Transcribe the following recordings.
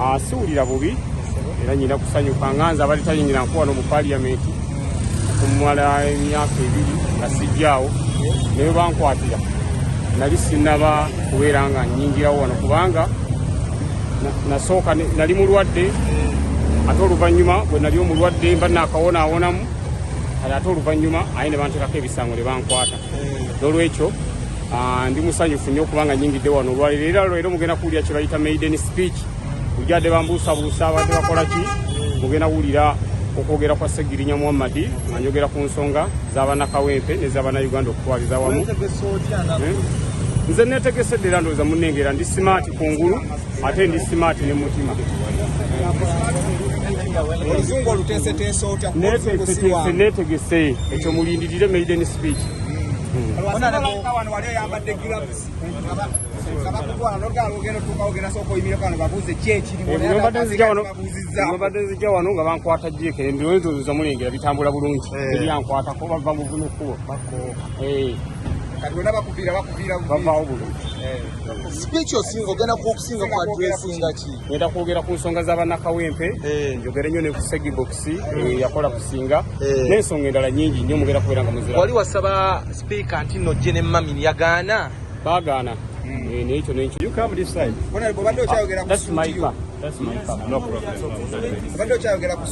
Ah, siwulira bubi era nyina kusanyuka nga nze abadde tayingira nkuwa no mu paliyamenti okumala emyaka ebiri nga sijjaawo naye bankwatira nali sinaba kubeera nga nyingirawo wano kubanga nasooka nali mulwadde ate oluvannyuma bwe nali omulwadde mba naakawonawonamu kale ate oluvannyuma aye ne banteekako ebisango ne bankwata nolwekyo ah, ndi musanyufu nnyo kubanga nyingidde wano olwaliro era lwero mugenda kuwulira kyebayita maiden speech ujade bambuusabuusa abadde bakola ki mugenda kuwulira okwogera kwa segirinya muhammadi nga njogera ku nsonga zabanakawempe nezabanauganda okutwaliza wamu eh? nze netegese ddera ndowooza munengera ndi simaati kungulu ate ndi simaati ne mutima oluzungu oluteeseteese otya neeteeseteese neetegese ekyo mulindirire maiden speech wano wali oyambadde gilavusi obadde nzija wano nga bankwata jeeka ebirowezo nza mulengera bitambula bulungi eh. ebyankwatako bava mu buno kkubo eh. kati bona bakuviira bakuviira bavaawo bulungi eh. Sipiiki osinga ogenda kukusinga ku adressinga ki? Ngenda kwogera ku nsonga za bannakawempe eh. njogere nnyo ne ku segibokisi eh. eh, yakola kusinga n'ensonga endala nyingi nnyo mugenda kubeera nga muzira. Wali wasaba sipiika nti nno gye ne mamini yagaana? Baagaana. Hmm. Naye ekyo n'ekyo. You come this side. That's my car. That's my car. No problem.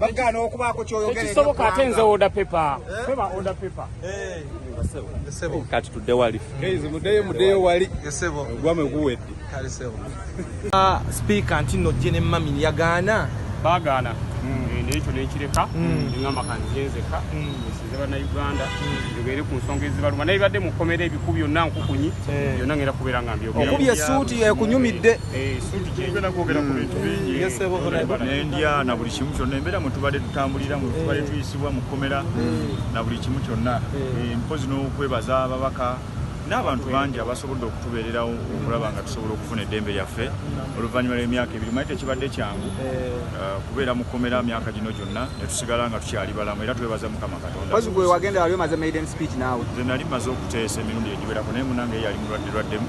bagana okubaako kyoyogerekisoboka ate nze oda pepa eh? peba oda pepa eh. kati tudde wali mudeyo mudeyo wali ogwame guwedde ah, sipiika nti no jene mamin yagaana bagaana hmm. eh, nekyo nekireka hmm. ngamba kanzenzeka hmm. nsize banauganda njogere ku nsonga ezibaluma naye badde mukomera ebiku byonna nkukunyi byonna ngenda kubeera nga mbyogeokubye esuuti ekunyumidde nendya na buli kimu kyonna embeera mwe tubadde tutambulira mwe tubadde tuyisibwa mu kkomera na buli kimu kyonna eh, mpozi n'okwebaza ababaka n'abantu bangi abasobodde okutubeererawo okulaba nga tusobola okufuna eddembe lyaffe oluvannyuma lw'emyaka ebiri manyi tekibadde kyangu eh. uh, kubeera mu kkomera myaka gino gyonna ne tusigala nga tukyali balamu era twebaza mukama katondanze nali maze okuteesa emirundi egiwerako naye munange yali mulwadde lwaddemu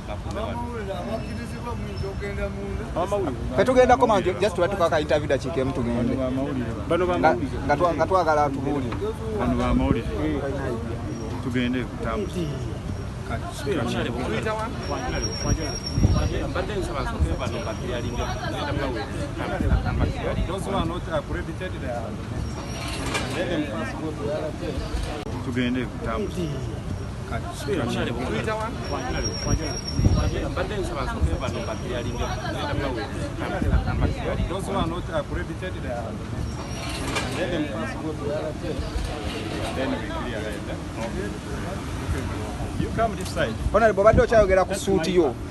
fetugenda koma nti just batuka ka interview dakiika emu tugende nga twagala tubuulire tugende kutambuza mbadde nsaba nsooke bano bakeyalinga tugende kutambuza Honorable, obadde okyayogera ku suuti yo